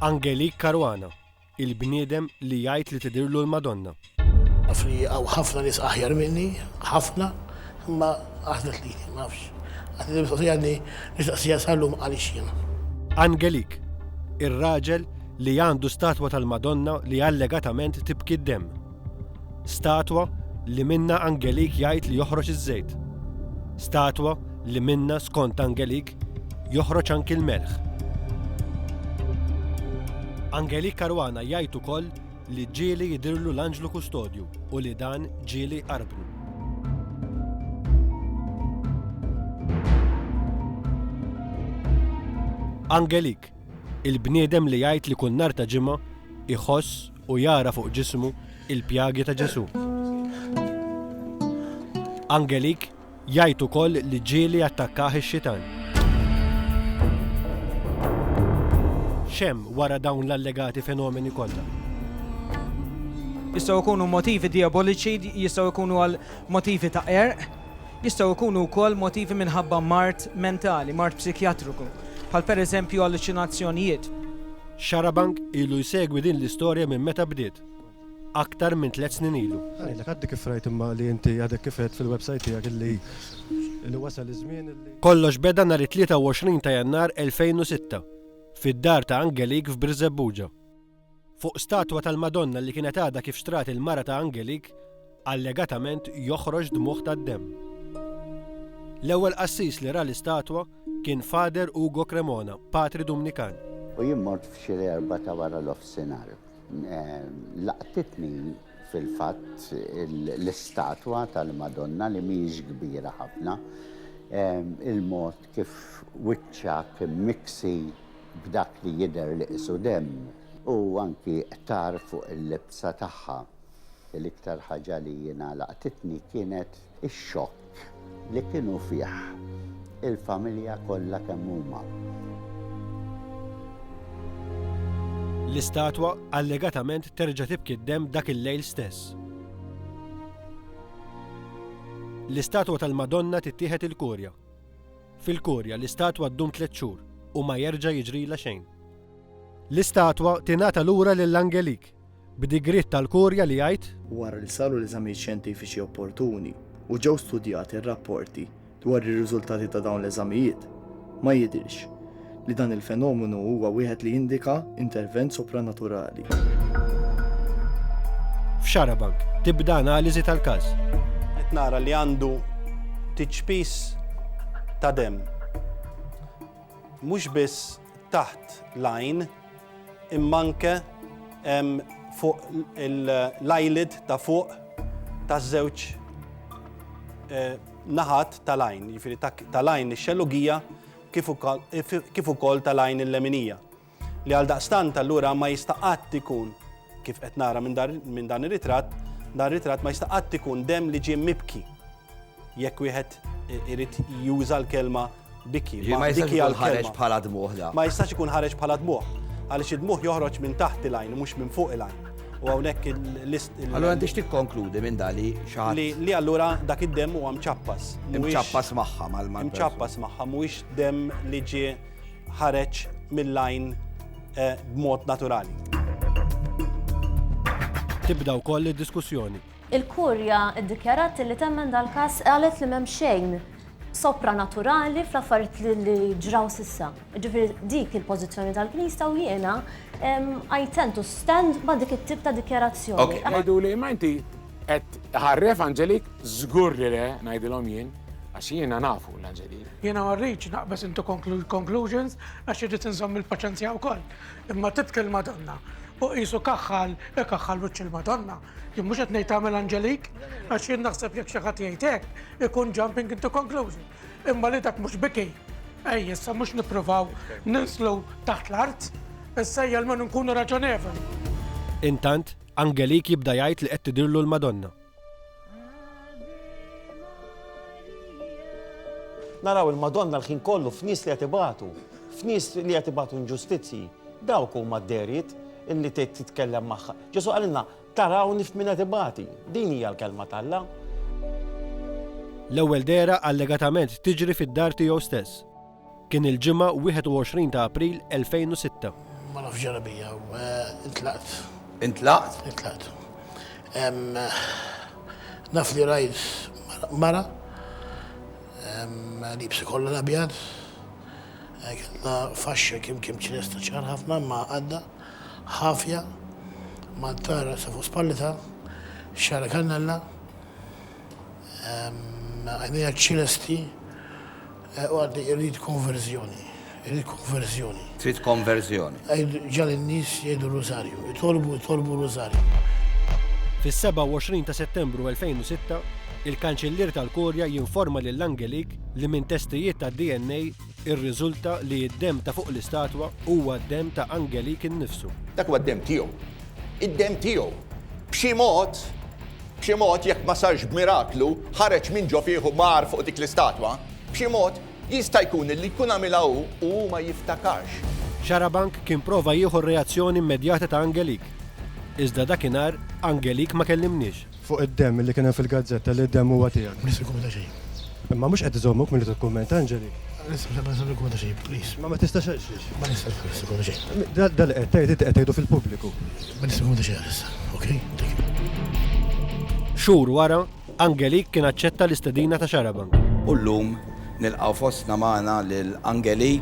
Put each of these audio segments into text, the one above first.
Angelique Caruana, Il-bniedem li jgħid li tidhirlu l-Madonna. Naf li hawn ħafna nies aħjar minni, ħafna, imma għażlet lili, ma nafx. Għad li mistoqsija għadni nistaqsija sal-lum għaliex jiena. Angelique, Ir-raġel li għandu statwa tal-Madonna li allegatament tibki d-demm. Statwa li minnha Angelik jgħid li joħroġ iż-żejt. Statwa li minnha, skont Angelik, joħroġ anki l-melħ. Angelik Caruana jgħid ukoll li ġieli jidhirlu l-anġlu kustodju u li dan ġieli jqarbnu. Angelik, il-bniedem li jgħid li kull nhar ta' Ġimgħa iħoss u jara fuq ġismu l-pjagi ta' Ġesù. Angelique jgħid ukoll li ġieli attakkah ix-xitan. X'hemm wara dawn l-allegati fenomeni kollha? Jistgħu jkunu motivi dijaboliċi, jistgħu jkunu għal motivi ta' qerq, Jistgħu jkunu wkoll motivi minħabba mard mentali, mard psikjatriku, bħal pereżempju alluċinazzjonijiet. Xarabank ilu jsegwi din l-istorja minn meta bdiet, aktar minn tliet snin ilu. Ħa ngħidlek, għaddi kif rajt imma li inti għadek kif għedt fil-websajt tiegħek illi illi wasal iż-żmien illi. Kollox beda nhar it-23 ta' Jannar 2006, fid-dar ta' Angelique f'Birżebbuġa. Fuq statwa tal-Madonna li kienet għadha kif xtrat il-mara ta' Angelik, allegatament joħroġ dmugħ tad-demm. L-ewwel qassis li ra l-istatwa kien Father Ugo Cremona, patri Dumnikan. U jien mort f'xi l-Erbgħa ta' wara nofsinhar. Laqtitni fil-fatt l-istatwa tal-Madonna li mhijiex kbira ħafna, il-mod Kif wiċċek immiksi b'dak li jidher li qisu demm. U anki qtar fuq il-libsa tagħha. L-iktar ħaġa li jiena laqtitni kienet ix-xokk li kienu fih il-familja kollha kemm huma. L-istatwa allegatament terġa' tibki d-demm dak il-lejl stess. L-istatwa tal-Madonna tittieħed il-Kurja. Fil-kurja, l-istatwa ddum tliet xhur u ma jerġa' jiġrilha xejn. L-istatwa tingħata lura lil Angelik, b'digriet tal-kurja li jgħid. Wara li saru l-eżamijiet xjentifiċi opportuni u ġew studjati r-rapporti dwar ir-riżultati ta' dawn l-eżamijiet, ma jidhirx li dan il-fenomenu huwa wieħed li jindika intervent sopranaturali. F'Xarabank tibda analiżi tal-każ. Qed nara li għandu tiċpis ta' dem. Mhux biss taħt lajn immanke fuq l-eyelid ta' fuq ta' żewġ eh, naħat tal-lajn, jiġifieri tal-lajn ix-xellugija kif ukoll tal-għajn il-leminija, li għaldaqstant allura ma jista' qatt ikun, kif qed nara minn dan ir-ritratt, dan ir-ritratt ma jista' qatt ikun demm li ġie mibki, jekk wieħed irid juża l-kelma biki. Ġifieri ma jistax ikun ħareġ bħala dmugħ dan. Ma jistax ikun ħareġ bħala dmugħ, għaliex id-dmugħ joħroġ minn taħt il-għajn u mhux minn fuq il-għajn. U għawnek il-list. Allora għandix tikkonkludi minn dali xaħat. Li allura dak id-dem u għam ċappas. Mċappas maħħa mal-mal. Mċappas maħħa, mux dem li ġi ħareċ mill-lajn eh, b'mod naturali. Tibda wkoll id-diskussjoni. Il-Kurja ddikjarat li temmen dal-każ qalet li m'hemm xejn sopranaturali fl-affarijiet li ġraw s'issa. Jiġifieri dik il-pożizzjoni tal-Knisja u jiena I tend to stand ma' dik it-tip ta' dikjarazzjoni. Jgħiduli imma inti qed tħarref Angelik, żgur li le, ngħidilhom jien, għax jiena nafu lil Angelik. Jiena ma rridx naqbeż into conclusions għax irrid inżomm il-paċenzja wkoll. Imma tibki l-Madonna u qisu kaħħal ikaħħal wiċċ il-Madonna. Jien mhux qed ngħid tagħmel Anġelik, għax jien naħseb jekk xi ħadd jgħid hekk, ikun jumping into conclusion. Imma li dak mhux biki, ejja issa mhux nippruvaw ninslu taħt l-art, issa ejja almenu nkunu raġonevoli. Intant, Angelik jibda jgħid li qed tidhirlu l-Madonna. Naraw il-Madonna l-ħin kollu f'nies li qed ibatu, f'nies li qed ibatu inġustizzji, dawk huma d-dehriet illi titkellem magħha. Ġesù qalilna, Tarawni f'min qed ibati. Din hija l-Kelma t'Alla. L-ewwel dehra allegatament tiġri fid-dar tiegħu stess. Kien il-Ġimgħa 21 ta' April 2006. Ma nafx ġara bija, eh, intlaqt. Intlaqt? Intlaqt. Naf li rajt mara li bsi kollha l-abjad, eh, kellha faxxa kim kim ċinesta ċar ħafna ma għadda. Ħafja, Mantar Għassa fuq spallitha, Xagħra kannella, Għajnejha ċ-ċilesti, u għaddej Irrid konverżjoni, irrid konverżjoni. Trid konverżjoni. Ġagħal in-nies jgħidu r-Rużarju, itolbu, itolbu r-Rużarju. Fis-27 ta' Settembru 2006, il-Kanċillier tal-Kurja jinforma lill-Angelik li minn testijiet tad-DNA, Irriżulta li d-demm ta' fuq l-istatwa huwa d-demm ta' Angelique innifsu. Dak huwa d-demm tiegħu. Id-demm tiegħu. B'xi mod, b'xi mod, jekk ma sarx b'miraklu, ħareġ minn ġo fih u mar fuq dik l-istatwa. B'xi mod, jista' jkun li jkun għamilha hu u hu ma jiftakarx. Xarabank kien prova jieħu r-reazzjoni immedjata ta' Angelique. Iżda dakinhar, Angelique ma kellimniex. Fuq id-demm li kien hemm fil-gazzetta li d-demm huwa tiegħek. M'iniex se nikkummenta xejn. Imma mhux qed iżommok milli tikkummenta, Angelie. Issa ma nista' nikkummenta xejn, please. Imma ma tistax għal xiex? Ma nistax ma nistax nikkummenta xejn. Dan li qed tgħid inti qed tgħidu fil-pubbliku. Ma nista' nikkummenta xejn għalissa, okej? Thank you. Xhur wara, Angelie kien aċċetta l-istedina ta' Xarabank. U llum nilqgħu fostna magħna lil Angelie.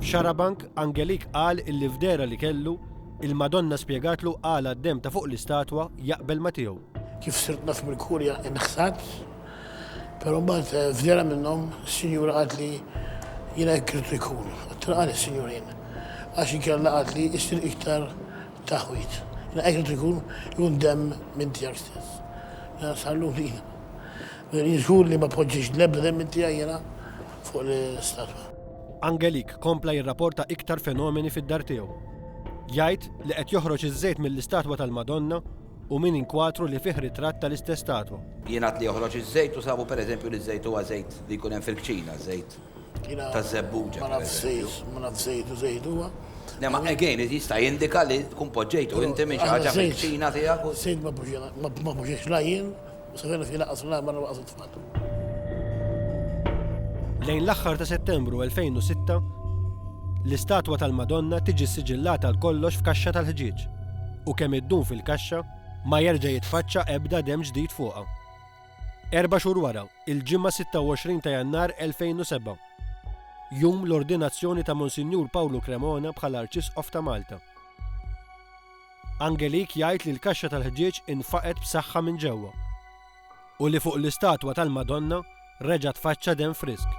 F'Xarabank, Angelie qal illi f'dehra li kellu, Il-Madonna spjegatlu għala d-demm ta' fuq l-istatwa jaqbel ma' tiegħu. Kif sirt naf mill-Kurja inħsad, però mbagħad f'dehra minnhom sinjura qaltli jiena hekk ridt ikun. Għedtilha għaliex sinjura jien? Għax inkella qaltli issir iktar taħwid. Jiena hekk ridt ikun, ikun demm minn tiegħek stess. Jiena sar lura jiena. Mela jien żgur li ma poġġejtx l-ebda demm minn tiegħi jiena. fuq l-istatwa. Angelique kompla jirraporta iktar fenomeni fid-dar tiegħu. Jgħid li qed joħroġ iż-żejt mill-istatwa tal-Madonna u minn inkwatru li fih ritratt tal-istess statwa. Jingħad li joħroġ iż-żejt u sabu pereżempju li ż-żejt huwa żejt li jkun hemm fil-kċina, żejt taż-żebbuġa. Ma nafx żejt, ma nafx żejt u żejt huwa. Le ma again jista' jindika li tkun poġġejtu inti minn xi ħaġa fil-kċina tiegħek. Żejt ma poġġejtx la jien u se jkun qed jingħaqad fl-għan barra waqgħat it-tfal. Lejn l-aħħar ta' Settembru 2006, l-istatwa tal-Madonna tiġi ssiġillata għal kollox f'kaxxa tal-ħġieġ u kemm iddum fil-kaxxa, ma jerġa' jitfaċċa ebda demm ġdid fuqha. Erba' xhur wara, il-Ġimgħa 26 ta' Jannar 2007, jum l-ordinazzjoni ta' Monsinjur Pawlu Cremona bħala Arċisqof ta' Malta, Angelique jgħid li l-kaxxa tal-ħġieġ infaqgħet b'saħħa minn ġewwa u li fuq l-istatwa tal-Madonna reġa' tfaċċa demm frisk.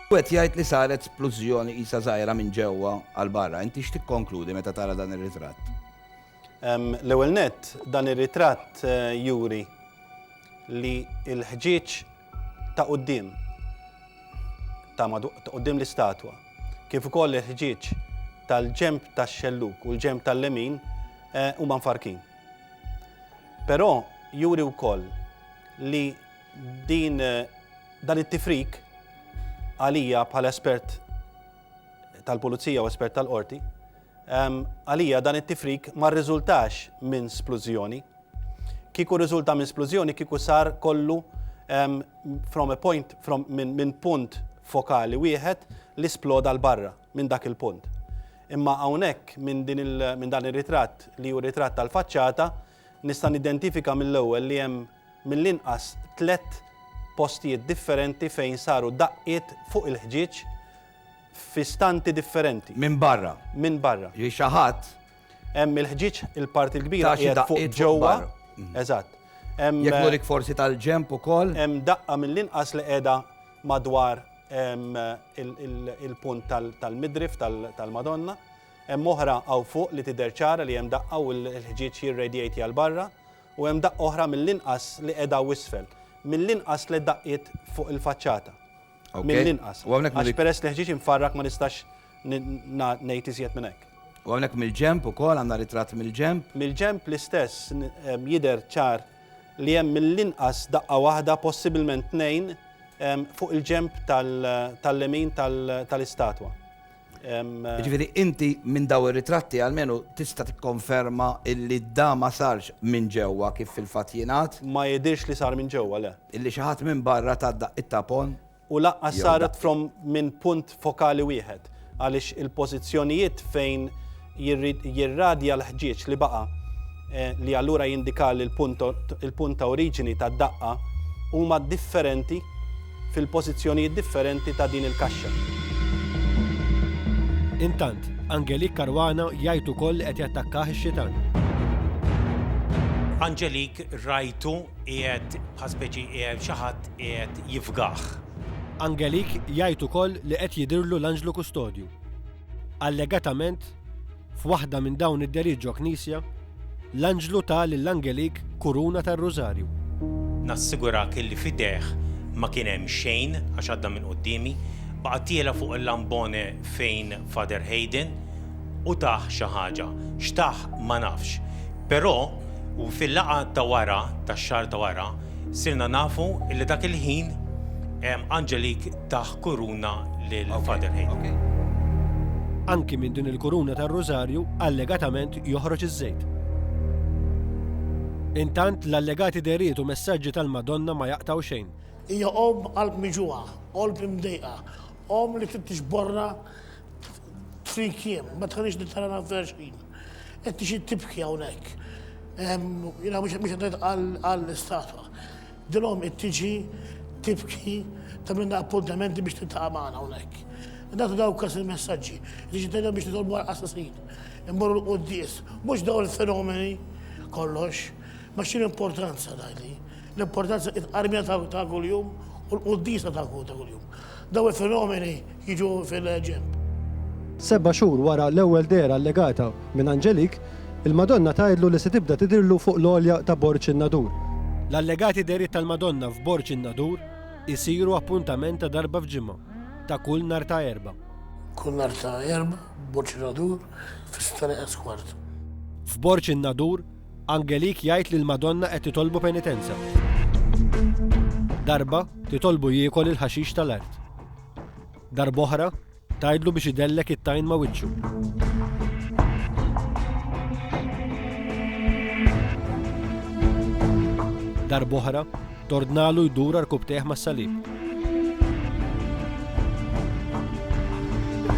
Wieħed jgħid li saret splużjoni qisha żgħira minn ġewwa għal barra. Inti x'tikkonkludi meta tara dan ir-ritratt? L-ewwel nett, dan ir-ritratt juri li l-ħġieġ ta' quddiem ta' quddiem l-istatwa, kif ukoll il-ħġieġ tal-ġenb tax-xellug u l-ġenb tal-lemin eh, huma mfarkin. Però juri wkoll li din eh, dan it-tifrik għalija bħala espert tal-pulizija u espert tal-qorti, ehm, għalija dan it-tifrik ma rriżultax minn splużjoni, Kieku rriżulta minn splużjoni kieku sar kollu from a point, from, minn punt fokali wieħed li sploda 'l barra minn dak il-punt. Imma hawnhekk minn din il, minn dan ir-ritratt li hu ritratt tal-faċċata nista' nidentifika mill-ewwel li hemm mill-inqas tliet postijiet differenti fejn saru daqqiet fuq il-ħġieġ f'istanti differenti. Minn barra. Minn barra. Ġifieri xi ħadd Hemm il-ħġieġ il-parti l-kbira qiegħed fuq ġewwa. Eżatt. Jekk nurik forsi tal-ġemp ukoll. Hemm daqqa mill-inqas li qiegħda madwar il-punt tal-midrif tal-Madonna. Hemm oħra hawn fuq li tidher ċara li hemm daqqa u l-ħġieġ jirredjejt jgħal barra u hemm daqqa oħra mill-inqas li qiegħda isfel. Mill-inqas tliet daqqiet fuq il-faċċata. Mill-inqas. Għax peress li ħġieġ imfarrak ma nistax ngħid iżjed minn hekk. U hawnhekk mill-ġenb ukoll għandna ritratt mill-ġenb? Mill-ġenb l-istess jidher ċar li hemm mill-inqas daqqa waħda possibilment tnejn fuq il-ġenb tal-lemin tal-istatwa. Ġifieri inti minn dawn ir-ritratti almenu tista' tikkonferma illi da ma sarx minn ġewwa kif fil-fatt jingħad? Ma jidhirx li sar minn ġewwa, le. Illi xi ħadd minn barra ta daqq it-tapon? U lanqas saret from minn punt fokali wieħed għaliex il-pożizzjonijiet fejn jirradja l-ħġieġ li baqa', li allura jindika li l-punt ta' oriġini tad-daqqa huma differenti fil-pożizzjonijiet differenti ta' din il-kaxxa. Intant, Angelique Caruana jgħid ukoll li qed jattakkah ix-xitan. Angelique rajtu qiegħed bħal speċi qiegħed xi ħadd qiegħed jifgah. Angelique jgħid ukoll li qed jidhirlu l-anġlu kustodju. Allegatament, f'waħda minn dawn id-dehriet ġo knisja, l-anġlu ta lil Angelik kuruna tar-rużarju. Nassigurak illi f'idejh ma kien hemm xejn għax għadda minn quddiemi, baqa' tiela' fuq il-lambone fejn Father Hayden u tah xi ħaġa. X'tah ma nafx. Però, fil-laqgħa ta' wara, tax-xahar ta' wara, sirna nafu illi dak il-ħin Angelik tah kuruna lil Father Hale. Anki minn din il-kuruna tar-Rużarju allegatament joħroġ iż-żejt. Intant l-allegati dehriet u messaġġi tal-Madonna ma jaqtgħu xejn. Hija omm qalb miġugħa, qolb imdejqa, omm li trid tiġborrha tfin kjiem, ma tħallix lil tara nagħmfilha xejn. Qed tixi tibki hawnhekk. Jiena mhux qed ngħid għall-istatwa. Dil-omm qed tiġi tibki tagħmilna appuntamenti biex tiltaqa' magħna hawnhekk. Nagħtu dawkas il-messaġġi, tiġi tgħidilna biex nitolbu għal qassasin, immorru l-quddies, mhux dawn il-fenomeni kollox. Ma x'inhi l-importanza tgħidli? L-importanza hi tqarrmija ta' kuljum u l-quddiesa ta' kuljum. Dawn il-fenomeni jiġu fil-ġenb. Seba' xhur wara l-ewwel dehra allegata minn Angelique, il-Madonna tgħidlu li se tibda tidhirlu fuq l-għolja ta' Borg in-Nadur. L-allegati dehriet tal-Madonna f'Borg in-Nadur isiru appuntament ta' darba f'ġimgħa, ta' kull nhar ta' Erbgħa. Kull nhar ta' Erbgħa, Borg in-Nadur, fis-sitta neqes kwart. F'Borg in-Nadur, Angelik jgħid li l-Madonna qed titolbu penitenza. Darba, titolbu jiekol il-ħaxix tal-art. Darb'oħra, tgħidlu biex idellek it-tajn ma' wiċċu. Darb'oħra, Tordnalu jdur għal rkubtejh mas-salib.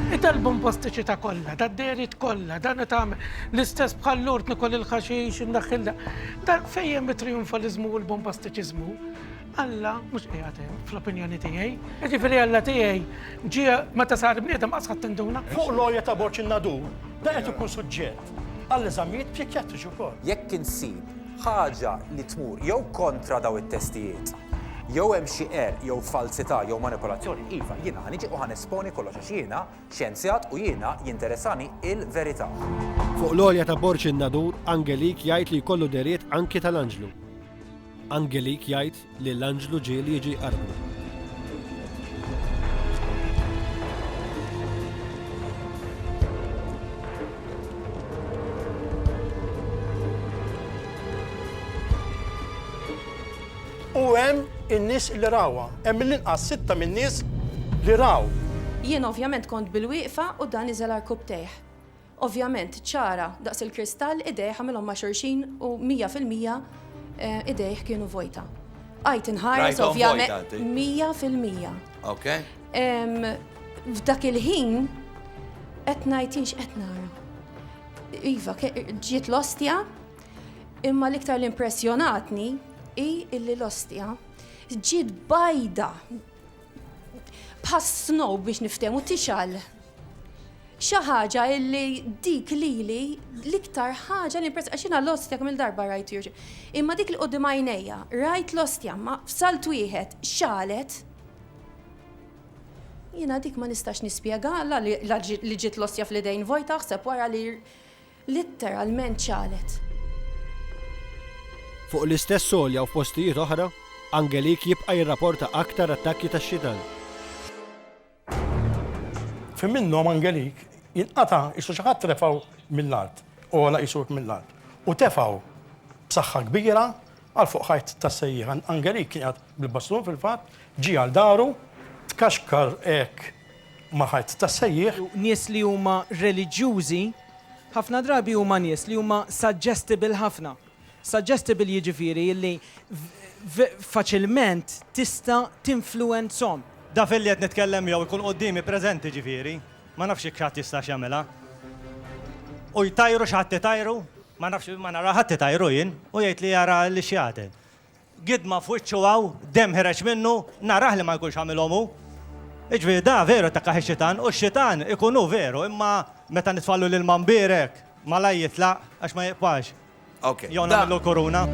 It-album postiċi ta' kollha, ta' derit kollha, dan qed tagħmel l-istess bħal lord nikol il-ħaxix indaħħilha. Da fejjem it-triumfalizmu u l-bombastiċiżmu. Alla mhux qiegħed hemm fl-opinjoni tiegħi. Jiġifieri Alla tiegħi ġie meta sar bniedem qas ħadd induna. Fuq l-għolja ta' borċ in-nadur, da qed ikun suġġett għall-eżamijiet psikjatriċi wkoll. Jekk insib ħaġa li tmur jew kontra dawn it-testijiet, jew hemm xi qerq jew falzità jew manipolazzjoni, iva, jiena ħa niġi u ħa nesponi kollox għax jiena xjenzjat u jiena jinteressani l-verità. Fuq l-għolja ta' Borg in-Nadur, Angelik jgħid li jkollu dehriet anki tal-anġlu. Angelik jgħid Li l-anġlu ġie li jiġi jqarrbu. U hemm in-nies li rawha, hemm mill-inqas sitta min-nies li raw. Jien ovvjament kont bil-wieqfa u dan niżel għarkupptejh. Ovvjament, ċara daqs il-kristall, idejh għamilhom ma' xulxin u mija fil-mija idejh kienu vojta. Bqajt inħares ovvjament mija fil-mija. Ok. F'dak il-ħin qed ngħid jinx qed nara. Iva, ġiet l-ostja, imma l-iktar l-impressjonatni hi illi l-ostja ġiet bajda bħas-snow biex niftehmu tixal Xi ħaġa illi dik lili l-iktar ħaġa li impress għax jiena l-ostja kemm il-darba rajt jirġi. Imma dik li qudiem għajnejja, rajt l-ostja ma f'salt wieħed xalet. Jiena dik ma nistax nispjega la li ġiet l-ostja fl-idejn vojta aħseb wara li litteralment xalet. Fuq l-istess għolja u f'postijiet oħra, Angelique jibqa' jirraporta aktar attakki tax-xitan. Fi minnhom Angelik jinqata' qisu xi ħadd refgħu mill-art, għola qisu hekk mill-art, u tefgħu b'saħħa kbira għal fuq ħajt tas-sejjieħ. Angelik kien qiegħed bil-bastun fil-fatt, ġie għal daru, tkaxkar hekk mal-ħajt tas-sejjieħ. Nies li huma reliġjużi ħafna drabi huma nies li huma suggestible ħafna. Suggestible jiġifieri li faċilment tista' tinfluwenzhom. Daf illi qed nitkellem miegħu jkun quddiemi preżenti ġifieri, ma nafx jekk xi ħadd jistax jagħmilha. U jtajru xi ħadd itajru, ma nafx ma nara ħadd itajru jien, u jgħidli jara lix-xjaten. Gidma f'wiċċu hawn, demm ħireġ minnu, narah li ma jkunx għamilhom hu. Jiġifieri da veru jtakkaħ ix-xitan u x-xitan ikun hu veru imma meta nitfgħallu l-ilma mbierek malajr jitlaq għax ma jiqpax. Ok. Jew nagħmillu l-kuruna.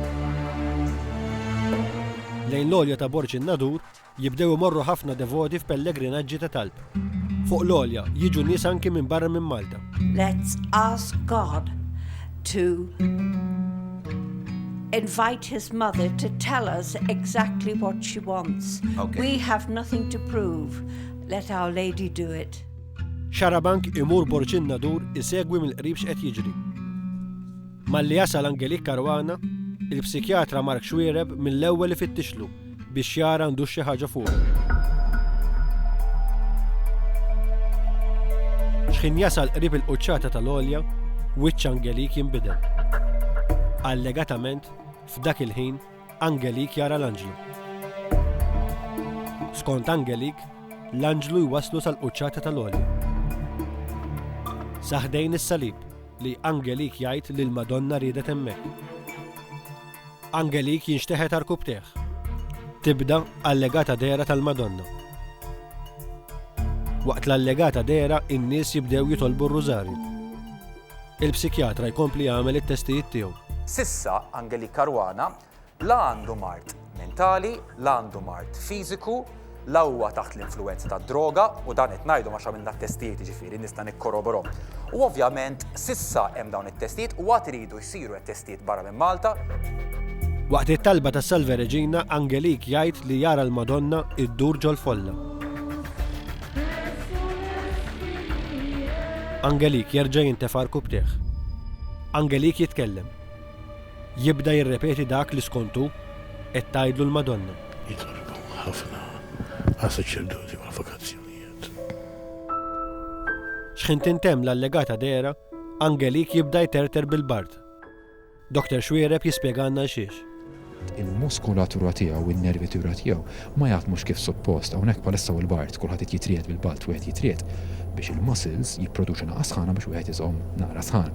Lejn l-għolja ta' Borg in-Nadur, Jibdew imorru ħafna devoti f'pellegrinaġġi ta' talb. Fuq l-għolja, jiġu nies anki minn barra minn Malta. Let's ask God to invite his mother to tell us exactly what she wants. Okay. We have nothing to prove. Let Our Lady do it. Xarabank imur borċin nadur isegwi mill-qrib x'qed jiġri. Malli jasal Angelique Caruana, il-psikjatra Mark Xuereb mill-ewwel ifittixlu biex jara għandux xi ħaġa fuqu. Xħin jasal qrib il-quċċata tal-olja, wiċċ Angelique jinbidel. Allegatament, f'dak il-ħin, Angelik jara l-anġlu. Skont Angelik, l-anġlu jwaslu sal-quċċata tal-għolja. Saħdejn is-salib li Angelik jgħid li l-Madonna riedet hemmhekk. Angelik jinxteħet arkubteħ. Tibda allegata dera tal-Madonna. Waqt l-allegata dera, in-nies jibdew jitolbu r-rużarju. Il-psikjatra jkompli jagħmel it-testijiet tiegħu. S'issa Angelique Caruana la għandu mard mentali, la għandu mard fiżiku, la huwa taħt l-influwenza tad-droga u dan qed ngħidu għax għamilna t-testijiet jiġifieri nista' nikkorroborhom. U ovvjament s'issa hemm dawn it-testijiet u għad iridu jsiru t-testijiet barra minn Malta. Waqt it-talba ta' Salve Regina, Angelique jgħid li jara l-Madonna ddur ġol-folla. Angelik jerġa' jintefa' rkubtejh. Angelik jitkellem. Jibda jirrepeti dak li skont hu qed tgħidlu l-Madonna. Jitolbu ħafna għas-saċerdoti u l-vokazzjonijiet. X'ħin tintemm l-allegata dehra, Angelik jibda jterter bil-bard. Doktor Xuereb jispjegalna għalxiex. Il-muskulatura tiegħu, in-nervitura tiegħu ma jaħdmux kif suppost. Hawnhekk bħalissa hu l-bard, kulħadd qed jitriegħed bil-balt, wieħed jitriegħed biex il-muscles jipproduċu naqas sħana biex wieħed iżomm naqra sħan.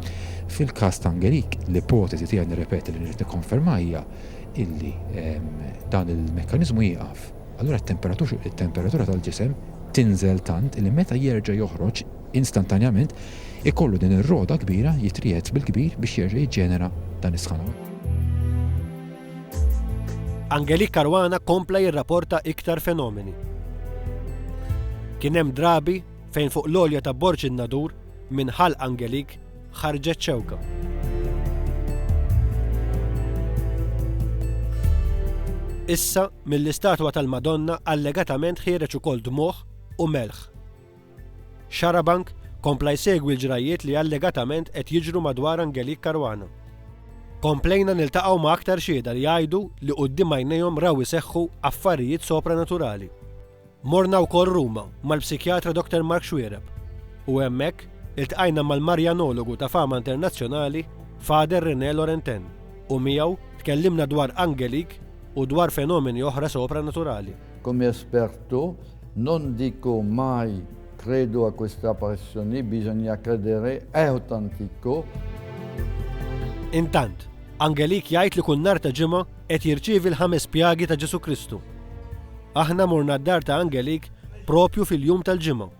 Fil-każ ta' Angelique, l-ipoteżi tiegħi nirrepeti li rrid nikkonferma hija illi dan il-mekkaniżmu jieqaf. Allura t-temperatura tal-ġisem tinżel tant illi meta jerġa' joħroġ, instantanjament, ikollu din ir-roda kbira jitriegħed bil-kbir biex jerġa' jiġġenera dan is-sħana. Angelique Caruana kompla jirraporta iktar fenomeni. Kien hemm drabi fejn fuq l-għolja ta' Borg in-Nadur, minn Ħal Angelique, ħarġet xewka. Issa, mill-istatwa tal-Madonna allegatament ħiereġ ukoll dmugħ u melħ. Xarabank kompla jsegwi l-ġrajjiet li allegatament qed jiġru madwar Angelique Caruana. Komplejna niltaqgħu ma' aktar xhieda li jgħidu li quddiem għajnejhom raw iseħħu affarijiet sopranaturali. Morna wkoll Ruma mal-psikjatra Dr Mark Xuereb u hemmhekk iltqajna mal-Marjanologu ta' fama internazzjonali Father René Laurentin u miegħu tkellimna dwar Angelique u dwar fenomeni oħra sopranaturali. Come esperto, non dico mai credo a questa apparizione, bisogna credere, è autentico. Intant, Angelik jgħid li kull nhar ta' ġimgħa qed jirċievi l-ħames pjagi ta' Ġesu Kristu. Aħna morna d-dar ta' Angelik propju fil-jum tal-ġimgħa.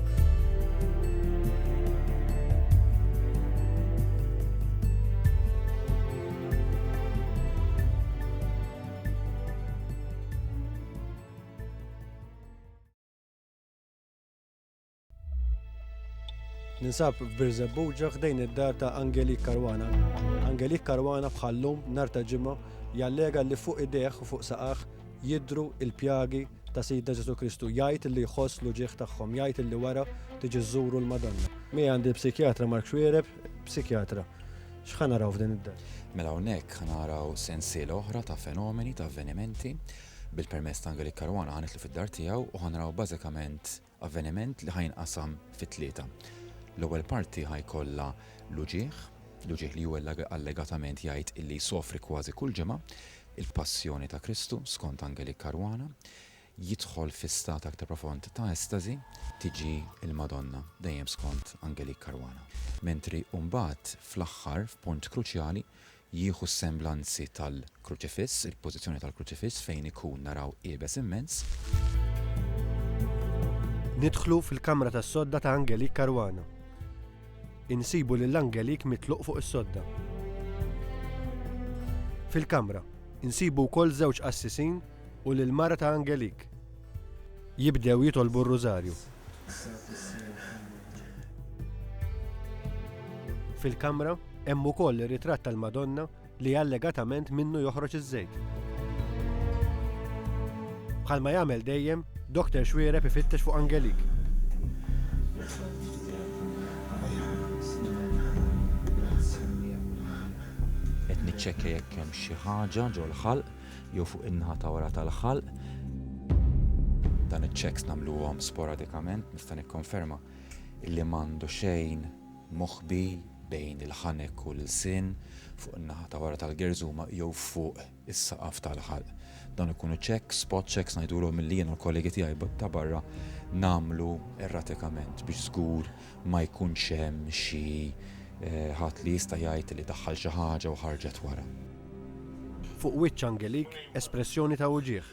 Ninsab f'Birżebbuġa ħdejn id-dar ta' Angelik Karwana. Angelik Karwana bħallum nar ta' ġimgħa jallega li fuq ideħ u fuq saqaħ jidhru l-pjagi ta' Sidna Ġesù Kristu, jgħid illi jħoss l-uġigħ tagħhom, jgħid illi wara tiġi żżuru l-Madonna. Miegħi għandi l-psikjatra Mark Xuereb, psikjatra. X'ħa naraw f'din id-dar? Mela hawnhekk ħa naraw sensiela oħra ta' fenomeni, ta' avvenimenti, bil-permess ta' Angelik Caruana ħa nidħlu fid-dar tiegħu u ħa naraw bażikament Avveniment li ħa jinqasam fi tlieta. L-ewwel parti ħa jkollha l-uġigħ, l-uġigħ li hu allegatament jgħid illi jsofri kważi kull ġimgħa, il-Passjoni ta' Kristu skont Angelik Caruana, jidħol fi stat aktar profond ta' estażi, tiġi l-Madonna, dejjem skont Angelik Caruana, mentri mbagħad fl-aħħar, f'punt kruċjali, Jieħu s-semblanzi tal-Kruċifiss, il-pożizzjoni tal-Kruċifiss fejn ikun naraw iebes immens. Nidħlu fil-kamra tas-sodda ta' Angelique Caruana. Insibu lil Angelique mitluq fuq is-sodda. Fil-kamra, insibu wkoll żewġ qassisin u lill-mara ta' Angelique. Jibdew jitolbu r-Rużarju. Fil-kamra hemm ukoll ir-ritratt tal-Madonna li allegatament minnu joħroġ iż-żejt. Bħalma jagħmel dejjem, Dr. Xwiereb ifittex fuq Angelik. Qed niċċekkja jekk hemm xi ħaġa ġol-ħalq jew fuq in-naħa ta' wara tal-ħalq. Dan iċ-checks nagħmluhom sporadikament, nista' nikkonferma illi m'għandu xejn moħbi bejn il-ħanek u l-ilsien fuq in-naħa ta' wara tal-gerżuma jew fuq is-saqaf tal-ħalq. Dawn ikunu checks, spot checks ngħidulhom milli jien u l-kollegi tiegħi ta' barra nagħmlu erratikament biex żgur ma jkunx hemm xi ħadd li jista' jgħid li daħħal xi ħaġa u ħarġet wara. Fuq wiċċ Angelik espressjoni ta' uġigħ.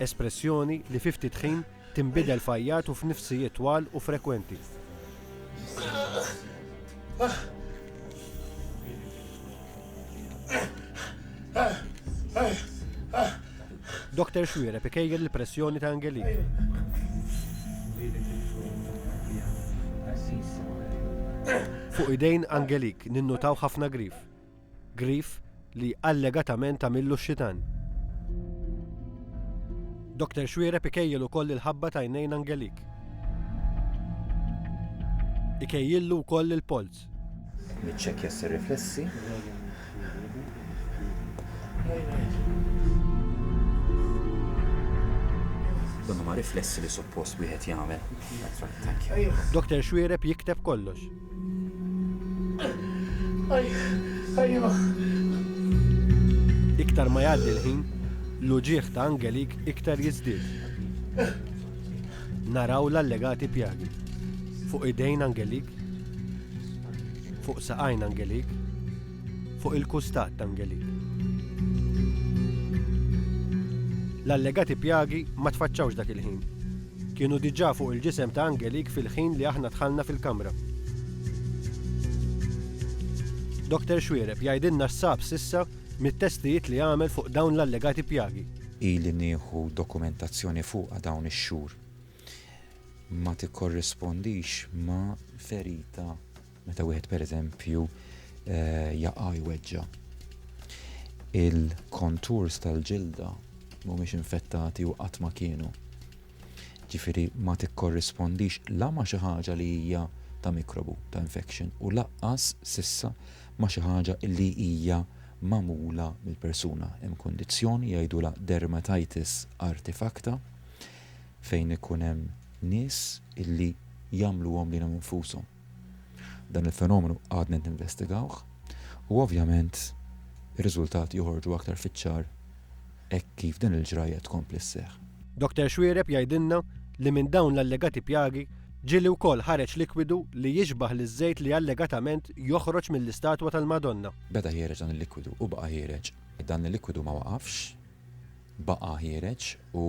Espressjoni li fi ftit ħin tinbidel f'għajjat u f'nifsijiet twal u frekwenti. Dr. Xwiereb ikejjel il-pressjoni ta' Angeline. Fuq idejn Angelik ninnutaw ħafna grif. Grif li allegatament għamillu x-xitan. Dr. Xwiereb ikejjel ukoll il-ħabba tajnejn Angelik. Ikejjillu wkoll il-polz. Niċċekkja s-riflessi. Dan huma riflessi li suppost wieħed jagħmel. Dr. Xwiereb jikteb kollox. Iktar ma jgħaddi l-ħin, l-uġieħ ta' Angelik iktar jiżdied. Naraw l-allegati pjagi. Fuq idejn Angelik Fuq saqajn angelik, fuq il-kustat angelik. L-allegati pjagi ma tfaċċawx dak il-ħin. Kienu diġà fuq il-ġisem ta' angelik fil-ħin li aħna dħalna fil-kamra. Dr. Xuereb jgħidilna x'sab s'issa mit-testijiet li għamel fuq dawn l-allegati pjagi. Ili nieħu dokumentazzjoni fuqha dawn ix-xhur. ma tikkorrispondix ma' ferita meta wieħed pereżempju eh, jaqa' jweġġa. Il-konturs tal-ġilda mhumiex infettati u qatt ma kienu. Ġifieri ma tikkorrispondix la ma xi ħaġa li hija ta' mikrobu, ta' infection, u laqqas sissa ma xi ħaġa li hija mamula mill-persuna. Hemm kondizzjoni jgħidula dermatitis artifacta fejn ikun hemm nies illi jagħmluhom lilhom infushom. Dan il-fenomenu għadna qed ninvestigawh u ovvjament ir-riżultati joħorġu aktar fiċ-ċar hekk kif din il-ġrajja tkompli sseħħ. Doktor Xuereb jgħidilna li minn dawn l-allegati pjagi ġieli wkoll ħareġ likwidu li jixbah liż-żejt li allegatament joħroġ mill-istatwa tal-Madonna. Beda jħereġ dan il-likwidu u baqa' jħereġ. Dan il-likwidu ma waqafx. baqa' ħiereġ u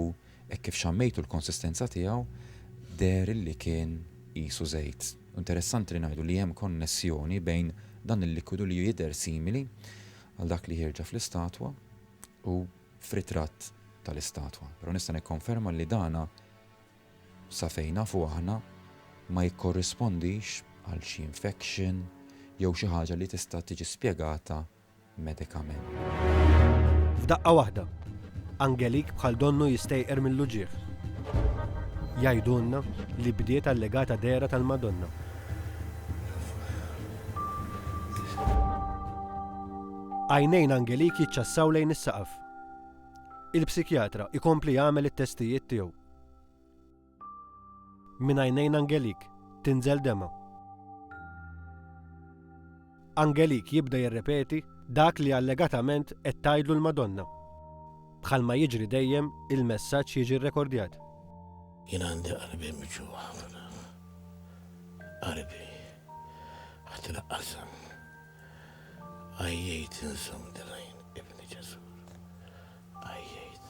hekk kif xammejtu l-konsistenza tiegħu deher illi kien qisu żejt. Interessanti li ngħidu li hemm konnessjoni bejn dan il-likwidu li jidher simili għal dak li ħierġa fl-istatwa u f'ritratt tal-istatwa. Però nista' nikkonferma li dana sa fejn nafu aħna ma jikkorrispondix għal xi infection jew xi ħaġa li tista' tiġi spjegata medikament. F'daqqa waħda, Angelik bħal donnu jistejqer mill-uġigħ. Jgħidulna li bdiet allegata dehra tal-Madonna. Għajnejn Angelik jiċċassaw lejn is-saqaf. Il-psikjatra ikompli jagħmel it-testijiet tiegħu. Minn għajnejn Angelik tinżel demgħa. Angelik jibda jirrepeti dak li allegatament qed tgħidlu l-Madonna. Bħalma jiġri dejjem, il-messaġġ jiġi rrekordjat. Jien għandi qalbi miġugħa ħafna. Qalbi qed tinaqqasam. Għajjejt inżomm dil-għajn Ibni Ġesur. Għajjejt.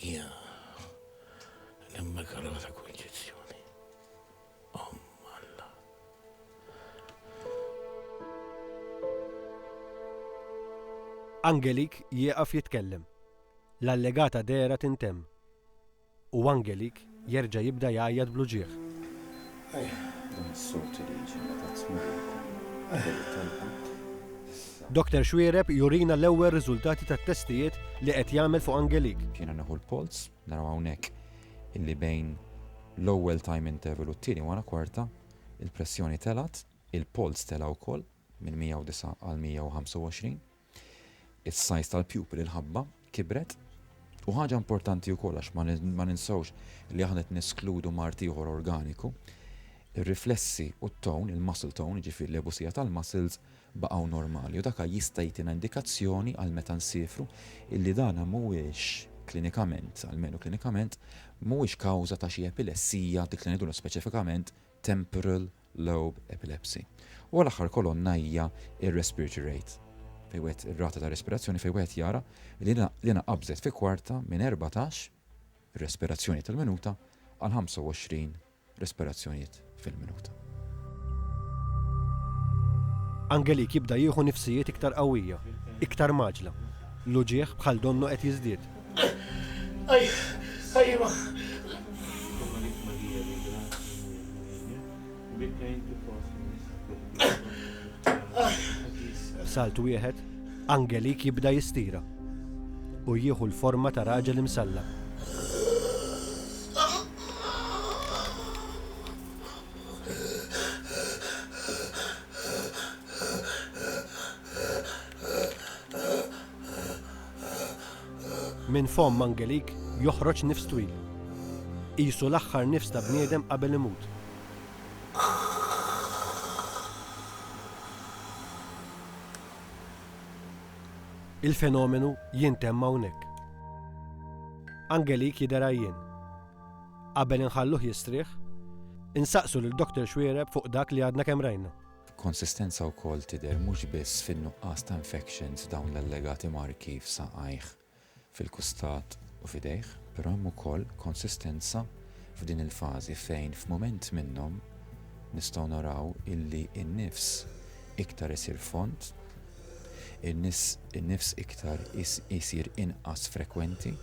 Hija l-Immakolata Konċizzjoni. Om Alla. Angelik jieqaf jitkellem. L-allegata dehra tintemm. U Angelik jerġa' jibda jgħajjat bl-uġigħ. Dan is-sod li jiġi meta tmur il-Komunjoni kollu tal-Ħadd, issa. Doktor Xuereb jurina l-ewwel riżultati tat-testijiet li qed jagħmel fuq Angelik. Jiena neħu l-polz, naraw hawnhekk illi bejn l-ewwel time interval u t-tieni wara kwarta, il-pressjoni telgħet, il-polz tela' wkoll minn 109 għal 125. Is-size tal-pupil, il-ħabba, kibret. U ħaġa importanti wkoll għax ma ninsewx li aħna qed neskludu mard ieħor organiku, ir-riflessi u t-tone, il-muscle tone, jiġifieri l-għebusija tal-muscles, baqgħu normali u daka jista' jtina indikazzjoni għal meta nsiefru illi dana mhuwiex klinikament, almenu klinikament, mhuwiex kawża ta' xi epilessija, dik li ngħidulha speċifikament temporal low epilepsy. U għal aħħar kolonna hija r-respiratory rate, fejn wieħed ir-rata ta' respirazzjoni fejn wieħed jara li l-ina qabżet fi kwarta minn 14 respirazzjonijiet tal-minuta għal 25 respirazzjonijiet fil-minuta. Angelik jibda jieħu nifsijiet iktar qawwija, iktar mgħaġġla. L-uġigħ bħal donnu qed jiżdied. B'salt wieħed, Angelik jibda jistira u jieħu l-forma ta' raġel imsallab. Minn fomm Angelik joħroġ nifs twil. Qisu l-aħħar nifs ta' bniedem qabel imut. Il-fenomenu jintemm hawnhekk. Angelik jidher għajjien. Qabel inħalluh jistrieħ, insaqsu lil Doctor Xuereb fuq dak li għadna kemm rajna. Konsistenza wkoll tidher mhux biss fin-nuqqas ta' infection f'dawn l-allegati marki f'saqajh, fil-kustat u f'idejh, però hemm ukoll konsistenza f'din il-fażi fejn f'mument minnhom nistgħu naraw illi n-nifs iktar isir fond, in-nifs iktar isir inqas frekwenti.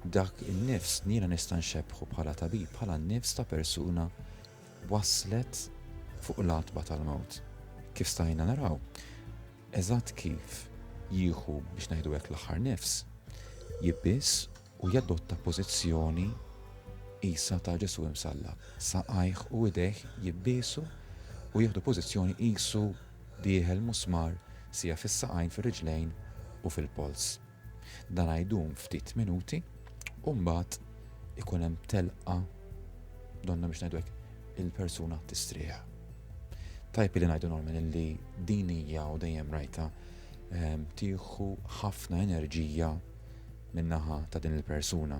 Dak in-nifs jiena nista' nxebbħu bħala tabib bħala n-nifs ta' persuna. wasslet fuq l-għatba tal-mewt. Kif stajna naraw, eżatt kif jieħu, biex ngħidu hekk, l-aħħar nifs, jibbies u jadotta pożizzjoni qisha ta' Ġesù imsallab. Saqajh u idejh jibbiesu u jieħdu pożizzjoni qisu dieħel musmar sieħ fis-saqajn, fir-riġlejn u fil-polz. Dan għajdum ftit minuti u mbagħad ikun hemm telqa donna biex ngħidwek il-persuna tistrieħ. Tajb li ngħidu normal li din hija u dejjem rajta ehm, tieħu ħafna enerġija min-naħa ta' din il-persuna.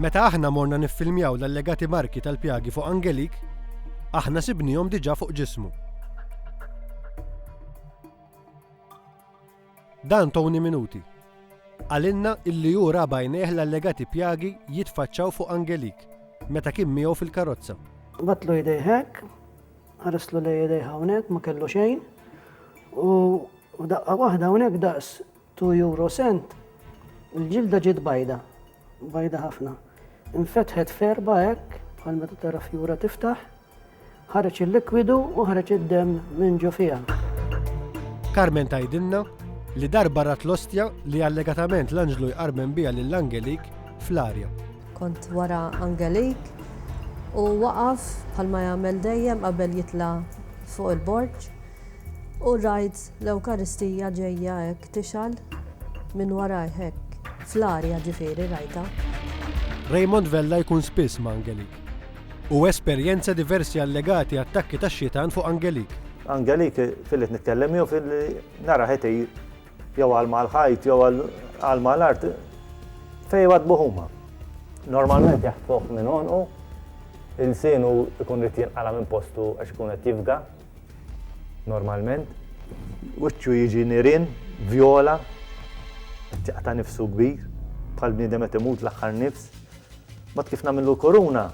Meta aħna morna niffilmjaw l-allegati marki tal-pjagi fuq Angelique, aħna sibniehom diġà fuq ġismu. Dan Tony Minuti. Qalilna illi hu ra b'għajnejh l-allegati pjagi jitfaċċaw fuq Angelique meta kien miegħu fil-karozza. Battlu jdejh hekk, Ħarislu lejn idejha hawnhekk ma kellu xejn u f'daqqa waħda hawnhekk daqs 2 euro cent il-ġilda ġiet bajda, bajda ħafna. Infetħet f'erba' hekk bħal meta tara fjura tiftaħ, ħareġ il-likwidu u ħareġ id-demm minn ġo fiha. Carmen tgħidilna li darba rat l-ostja li allegatament l-anġlu jqarmen biha lil Angelik fl-arja. Kont wara Angelik u waqaf bħalma jagħmel dejjem qabel jitla' fuq il-borġ u rajt l-Ewkaristija ġejja hekk tixgħal minn warajh hekk, fl-arja ġifieri rajtha. Raymond Vella jkun spiss ma' Angelik. U esperjenza diversi allegati attakki tax-xitan fuq Angelik. Angelik filli qed nitkellem miegħu filli narah qed igħir. jew għal mal-ħajt jew għal mal-art fejn jwadbuh huma. Normalment jaħtfuh minn għonqu, il-sinu jkun rid jinqala minn postu għax ikun qed jifga. Normalment. Wiċċu jiġi nirin, vjola, tjaqta' nifsu kbir, bħal bniedem qed imut l-aħħar nifs. Mod kif nagħmlu koruna,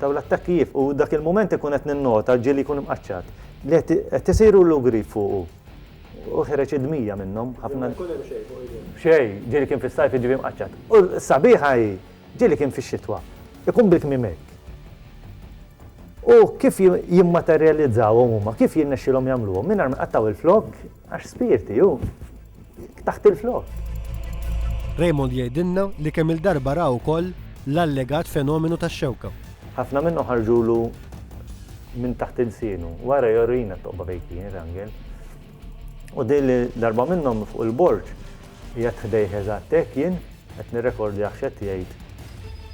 taw l-attakki jif u dak il-moment ikun qed ninnota ġieli jkun imqaċċat. Li qed isiru l-ugri fuqu. U ħereġ id-dmija minnhom ħafna. Jekk ma jkun hemm xejn fuq idejh. Xejn, ġieli kien fis-sajf jiġifieri mqaċċat. U s-sabiħa hi, ġieli kien fix-xitwa. Ikun bil-kmiem hekk. U kif jimmaterjalizzawhom huma, kif jirnexxielhom jagħmluhom, mingħajr ma jqattgħu il-flokk, għax spirti hu, taħt il-flokk. Raymond jgħidilna li kemm-il darba ra wkoll l-allegat fenomenu tax-xewka. Ħafna minnhom ħarġulu minn taħt ilsienu. Wara jorina t-toqba fejn kien rangel. U din li darba minnhom fuq il-borġ jgħat ħdejh eżatt hekk jien qed nirrekordjah x'qed jgħid.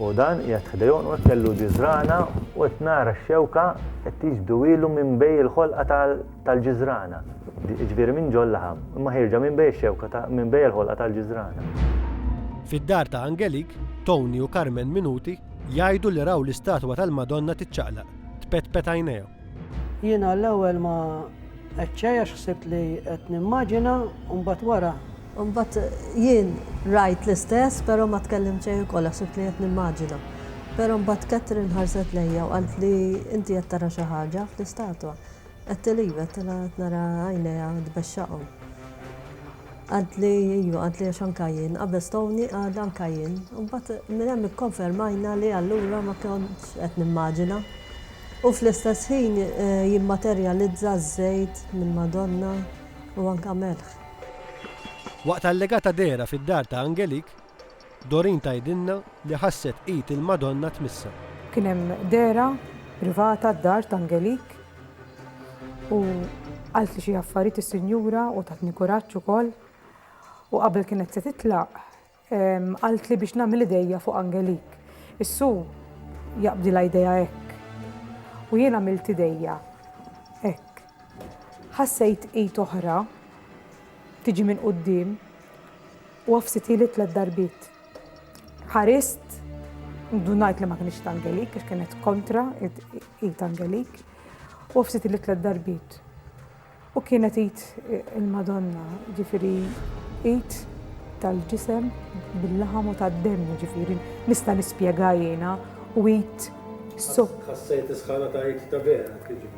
U dan jgħat ħdejhom u kellu ġiżrana u qed nara x-xewka qed tiġbduwilu minn bej il-ħolqa tal-ġiżrana. Ġifieri minn ġol laħam. Imma ħierġa minn bej ix-xewka minn bej il-ħolqa tal-ġiżrana. Fid-dar ta' Angelique, Tony u Carmen Minuti Jgħidu li raw l-istatwa tal-Madonna tiċċaqlaq, tpetpet għajnejhom. Jiena l-ewwel ma għedtx xejn għax ħsibt li qed nimmaġina u mbagħad wara. U mbagħad jien rajt l-istess però ma tkellimt xejn ukoll għax ħsibt li qed nimmaġina. Però mbagħad Catherine ħarset lejja u qaltli inti qed tara xi ħaġa fl-istatwa. Għedtli iva, għedtilha qed nara għajnejha tbexxaqhom. Għadli iva, għadli għax anka jien, qabel stgħuni għad anka jien. Imbagħad minn hemm ikkonfermajna li allura ma kontx qed nimmaġina. U fl-istess ħin eh, jimmaterjalizza ż-żejt minn Madonna u anka melħ. Waqt allegata dehra fid-dar ta' Angelique, Doreen tgħidilna li ħasset id il-Madonna tmissha. Kien hemm dehra privata d-dar t'Angelique u qaltli xi affarijiet is-sinjura u tatni kuraġġ ukoll u qabel kienet se titlaq qaltli biex nagħmel idejja fuq Angelique. Is-Su jaqbdilha jdejha hekk u jien għamilt idejja hekk. Ħassejt id oħra tiġi minn quddiem u għafsitieli tliet darbiet. Ħarist, ndunajt li ma kienx ta' Angelik, għax kienet kontra id Angelik, u għafsitieli tliet darbiet. U kienet id il-Madonna, ġifiri id tal-ġisem bil-laħam u tad-demm, ġifiri nista' nispjega jiena, u id. Ħassejt is-sħana ta' id ta' vera, kif ġifieri?